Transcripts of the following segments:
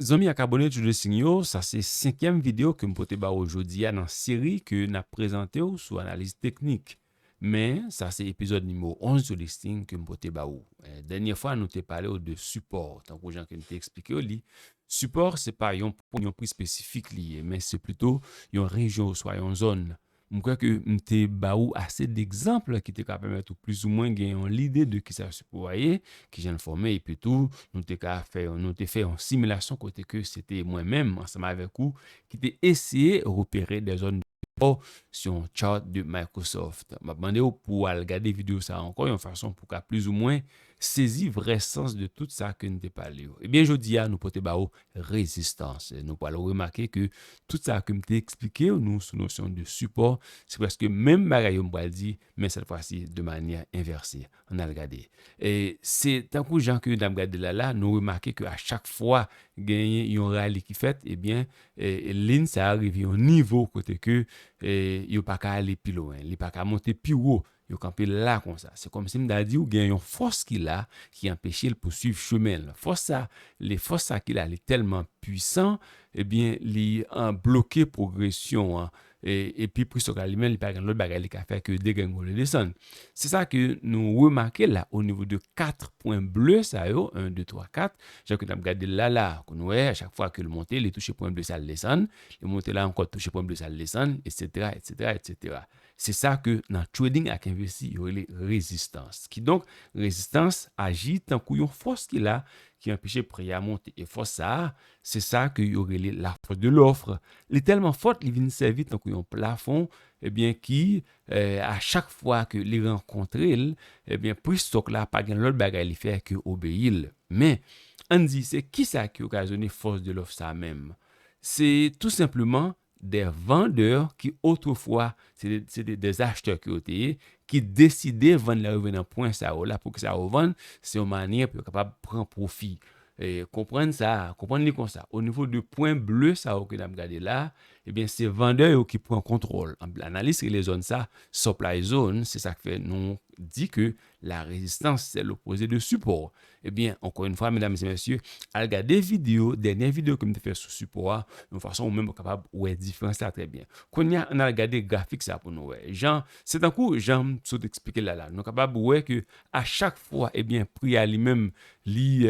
Zanmi ak abone Two Dresing yo, sa se senkyèm video ke m pote ba ou jodi a nan seri ke n ap prezante ou sou analiz teknik. Men, sa se epizòd nimewo 11 Two Dresing ke m pote ba ou. Dènyè fwa nou te pale ou de sipò, tankou jan ke m te eksplike ou li, sipò se pa yon pri espesifik li ye, men se pito yon rejyon oswa yon zòn M kwè ke m te ba ou ase degzanp ki te ka pèmèt ou plizoumwen gen yon lide de kisa sipo a ye, kijan l fòme epitou nou te ka fè yon nou te fè yon similasyon kote ke se te mwen menm ansanm avèk ou ki te eseye repere dè zòn de sipo sou yon chart de Microsoft. M ap mande ou pou w al gade videyo sa a ankò yon fason pou w ka plizoumwen Sezi vrè sans de tout sa ke n te pale yo. Ebyen jodi a nou pote ba ou rezistans. Nou pral remake ke tout sa ke m te eksplike nou sou nosyon de sipò, se prèske menm bagay yo m pral di, men sèt fwa si de manyè envèse. An n al gade. Se tankou jan ke n ap gade la la, nou remake ke a chak fwa genyen yon rali ki fèt, ebyen lin sa a rive yon nivo kote ke yo pa ka ale pi lwen. Li pa ka monte pi wo Yo kanpe la konsa. Se kòmsi m ta di w gen yon fòs ki la ki anpeche l pouswiv chemen l. Fòs sa, li fòs sa ki la li tèlman pwisan, ebyen li bloke pwogresyon an. E epi plis yo ka li menm li pa gen lòt bagay li ka fè ke degrengole desann. Se sa ke nou remake la o nivo de 4 pwen ble sa yo, 1, 2, 3, 4, jan ke n ap gade l la la a. Ke nou wè a chak fwa ke l monte li touche pwen ble sa l desann, li monte la ankò touche pwen ble sa l desann, etsetera, etsetera, etsetera. Se sa ke nan trading ak envesti yo rele rezistans. Kidonk, rezistans aji tankou yon fòs ki la ki anpeche pri a monte. E fòs sa a, se sa ke yo rele la force de l'offre. Li tèlman fòt, li vin sèvi tankou yon plafon, ebyen ki a chak fwa ke li rankontre l, ebyen pri stock la pa gen lòt bagay li fè ke obeyi l. Men, ann di se kisa ki okazyone force de l'offre sa menm? Se tou senpleman Des vendeurs ki otrefwa se te des acheteurs ke yo te ye, ki deside vann lè yo rive nan pwen sa yo la, poukisa yo vann, se yon manyè pou yo kapab pran pwofi. Konprann sa, konprann li konsa, o nivo de pwen ble sa yo ke n ap gade la, ebyen se vandè yo ki pran kontwòl, anpil analis rele zòn sa supply zone, se sa k fè nou di ke La résistance c'est l'opposé de support Ebyen ankò yn fwa medam e mesye al gade video dènyè video kem te fè sou sipò a yon fason ou menm ou kapab wè diferans la trè byen kounya ann al gade grafik sa pou nou wè jan se tankou janm sot eksplike la la nou kapab wè ke a chak fwa ebyen pri a li menm li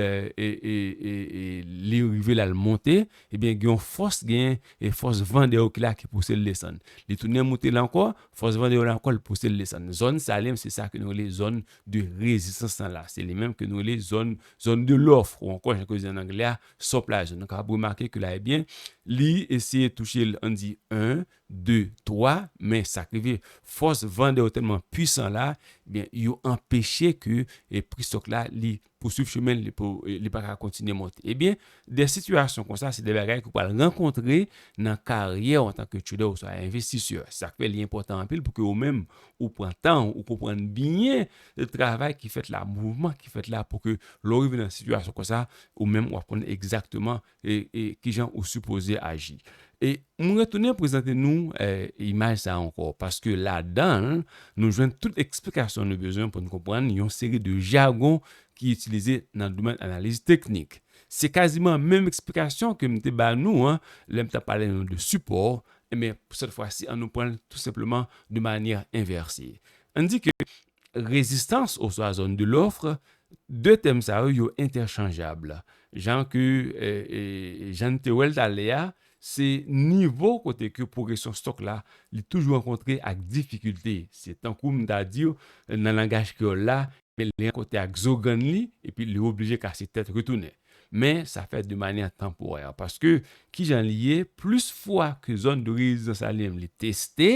li rive lal monte ebyen gen yon fòs gen e fòs van dèyè ou ki la ki pousel desann li tounen moute la ankò Fòs vandè yo la kòl pouse l desann. Zòn Salem se sa ke nou rele zòn de rezistans lan la. Se li menm ke nou rele zòn zone de l'offre ou ankò jan ke yo di an anglè a supply zone. Nou kapab remake ke la ebyen li eseye touche l ann di 1, 2, 3 men sa k rive fòs vandè yo tèlman pwisan la ebyen yo anpeche ke pri stock la li pouswiv chemen l pou li pa ka kontinye monte. Ebyen, de sitiyasyon konsa se de bagay ke w pral rankontre nan karyè w antanke trader oswa envestisè. Se sa k fè li enpòtan anpil pou ke ou menm ou pran tan w, ou konprann byen travay ki fèt la, mouvman ki fèt la pou ke lè w rive nan sitiyasyon konsa, ou menm w ap konn egzakteman E kijan ou sipoze aji. E m retounen prezante nou imaj sa ankò, paske ladan l nou jwenn tout eksplikasyon nou bezwen pou n konprann yon seri de jagon ki itilize nan domèn analiz teknik. Se kaziman menm eksplikasyon ke m te ba nou an lè m t ap pale nou de sipò, enben pou sèt fwa si an nou pran l tou senpleman de manyè envèse. An n di ke Rezistans oswa zone de l'offre, de tèm sa yo, yo entèchanjab. Jan ke, jan n te wè l talè a, se nivo kote ke pwogresyon stòk la, li toujou rankontre ak difikilte. Se tankou m ta di w, nan langaj kreyòl la, li rankontre ak zo grann li, epi li oblije kase tèt retounen. men sa fèt de manyè tanporè, paske ki jan li ye, plis fwa ke zòn de rezidans la li menm li teste,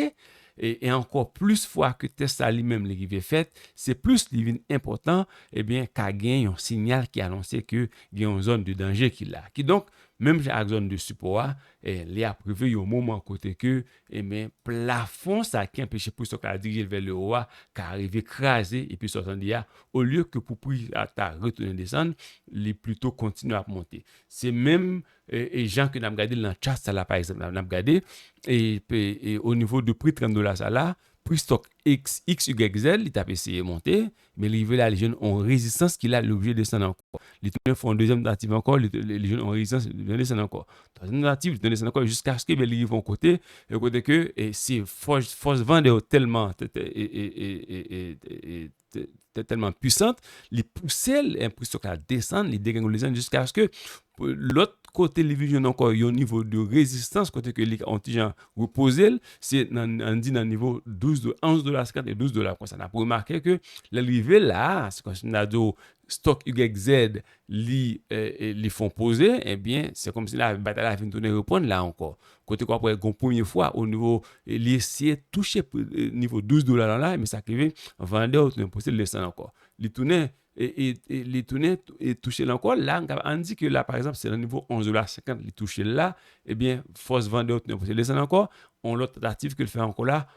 e ankò plis fwa ke tès la li menm li rive fèt, se plis li vin enpòtan, ebyen ka gen yon sinyal ki anonse ke gen yon zòn de danje ki la. Kidonk, menm jan ak zòn de sipò a, li ap rive yon moman kote ke Enben, plafon sa ki anpeche pri stok la dirije l vè lewo a ka rive kraze e pri stok la tande a, olye ke pou pri a ta retounen desann, li plito kontinye ap monte. Se menm jan ke n ap gade l nan chat sa la pa egzanp la n ap gade, e onivo de pri 30 dola sa la, Pri stock XYZ li tap eseye monte, men li rive la li jwenn on rezistans ki la li oblije desann ankò. Li tounen fè on dezyèm tantativ ankò, li jwenn on rezistans li tounen desann ankò. Twazyèm tantativ li tounen desann ankò jiskaske men li rive on kote, yon kote ke se fòs fòs van de yo tèlman te tèlman pwisant, li pouse l, enpresyon ka desann, li degrengole desann jiskaske lòt kote li vin jwenn ankò yon nivo de rezistans kote ke li ka yon ti jan repoze l, se nan an di nan nivo 12 dola, 11 dola 50 e 12 dola konsa. N ap remake ke lè l rive la a, se kòmsi m ta di w stòk YZ li li fon poze ebyen se kòmsi la batay la vin tounen reprann la ankò kote ke wap wè gon premye fwa o nivo li esye touche nivo 12 dola lan la men sa ki rive vandè yo tounen pouse l desann ankò li tounen li tounen touche l ankò la ann di ke la pa egzanp se nan nivo 11 dola 50 li touche l la ebyen fòs vandè yo tounen pouse l desann ankò on lòt tantativ ke l fè ankò la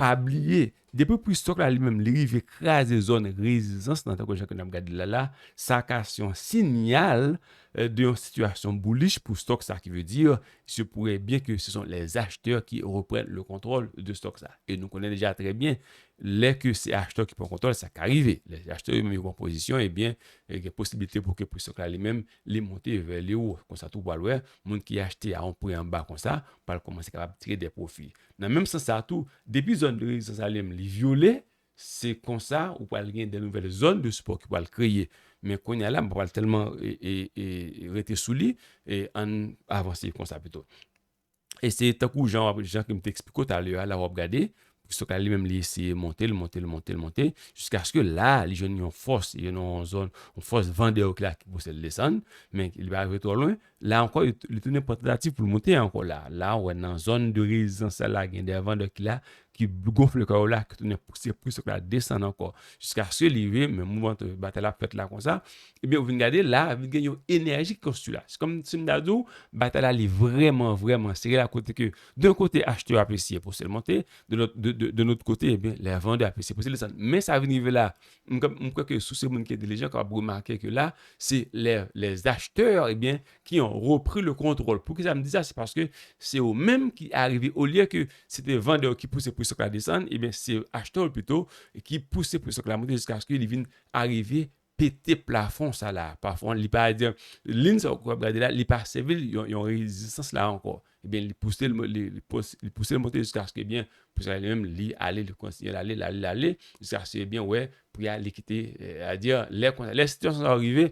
Pa bliye, depi pri stock la li menm li rive kraze zòn rezizans nan tankou jan ke nap gade l la la, sa ka se yon sinyal de yon sitiyasyon bullish pou stock sa ki vle di se pourrait byen ke se son les acheteurs ki reprann le controle de stock sa e nou konnen deja trè byen lè ke se achetè ki pran kontwòl sa ka rive lè se achetè yo menm yo pran pozisyon ebyen gen posiblite pou ke pri stock la li menm li monte vè le wo konsa tou ou pral wè moun ki achte a yon pri anba konsa pral kòmanse kapab tire de pwofi Nan menm sans sa tou, depi zòn de rezistans Alem li vyole, se konsa ou pral gen de nouvèl zòn de sipò ki pral kreye. Men kounye a la, m pa pral tèlman rete sou li, ann avanse konsa pito. E se tankou jan wap, jan ke m te eksplike w talè a la, wap gade, Christo-Kay la li menm li eseye monte, l monte, l monte, l monte, jiskaske la a li jwenn yon fòs, li jwenn yon zòn, yon fòs Vandè ok la ki pouse l desann, men li pa rive twò lwen, La ankò li tounen pran tantativ pou l moute ankò la. La ou wè nan zòn de rezistans la la gen de vandè ki la ki gonfle kò yo la ki tounen pouse plis yo k la desann ankò jiskaske li rive men mouvman batay la ap fèt la konsa ebyen ou vin gade la vin gen yon enèji ki konstwi la se kòm si m ta di w batay la li vrèman vrèman sere la kote ke de kote achtè yo ap eseye pouse l monte de lòt de lòt kote ebyen lè vandè ap eseye pouse l desann men sa vin rive la M kwè ke si w se moun ki entelijan kap remake ke la se lè les acheteurs ebyen ki an repri le controle. Poukisa m di sa se paske se yo menm ki arive olye ke se te vandè yo ki pouse pri stok la desann ebyen se achetè yo pito ki pouse pri stok la monte jiskaske li vin arive pete plafon sa la. Plafon li pa di lin sa w kap gade la li pa sèvi l yon rezistans la ankò. Ebyen li pouse l li pouse l monte jiskaske ebyen pou sa li menm li ale li kontinye l ale l ale l ale jiskaske ebyen wè pri a li kite sètadi lè konsa lè sitiyasyon sa yo rive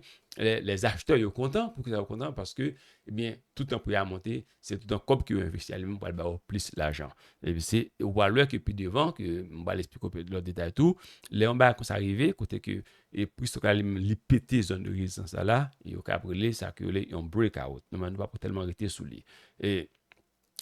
lè lèzachtè yo kontan poukisa yo kontan paske ebyen toutan pri a monte se toutan kòb ke yo envesti a li menm pral ba yo plis lajan epi se ou pral wè ke pi devan ke m pral esplike w lòt detay tou lè yon bagay konsa rive kote ke E plis yo ka li menm li pete zòn de rezistans la la e yo kab rele sa ke yo rele yon breakout. Nòmal nou pa pou tèlman rete sou li. E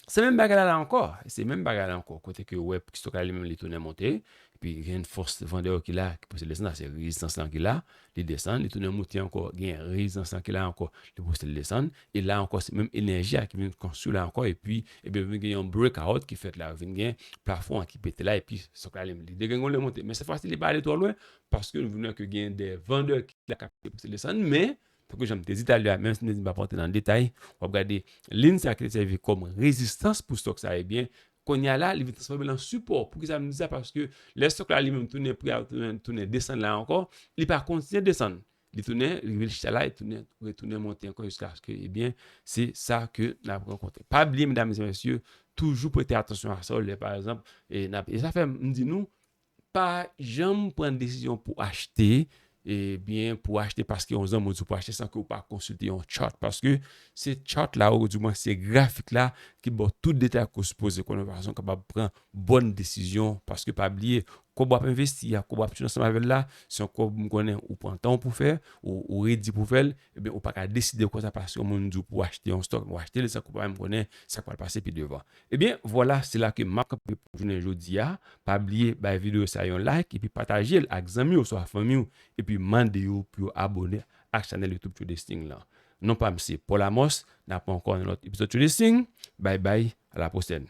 se menm bagay la la ankò, se menm bagay la ankò kote ke ou wè plis yo ka li menm li tounen monte epi gen yon fòs vandè yo ki la ki pouse l desann sa se rezistans lan ki la, li desann li tounen moute ankò gen rezistans lan ki la ankò ki pouse l desann e la ankò se menm enèji a ki vin konstwi la ankò epi ebyen vin gen yon breakout ki fèt la vin gen plafon an ki pete la epi sa yo ka rele li degrenngole monte men sètfwasi li pa ale twò lwen paske nou vle ke gen de vandè ki la kap peye pou ti desann men tankou janm te di talè a menm si nou di m'ap rantre nan detay wap gade lin sa ki te sèvi kòm rezistans pou stòk sa ebyen kounye a la li vin transfòme an sipò poukisa m di sa paske lè stòk la li menm tounen pri a tounen desann la ankò li pa kontinye desann li tounen rive chita la li tounen retounen monte ankò jiskaske ebyen se sa ke n'ap rankontre pa bliye medam e mesye toujou prete atansyon a sa w lè pa egzanp e zafèm m di nou Pa janm pran desizyon pou achte e byen pou achte paske yon zanmi w di w pou achte san ke w pa konsilte yon chart paske se chart la ou di mwen se grafik la ki ba w tout detay ke w sipoze konnen yon fason kapab pran bòn desizyon paske pa bliye kòb w ap envesti a kòb w ap siw ansanm avè l la se yon kòb m konnen ou pran tan w pou fè ou redi pou fè l e byen ou pa ka deside konsa paske yon moun di w pou achte yon stock ou achte l san ke w pa menm konnen sa k pral pase pi devan Ebyen vwala se la ke map kanpe pou jounen jodi a, pa bliye bay video sa yon like epi patajel ak zanmi oswa fanmiw epi mande yo pou yo abone ak chanèl YouTube Tjodesting lan. Non pam se Paul Amos, nap wè ankò nan lòt epizòd Tjodesting, bay bay a la pwosèn.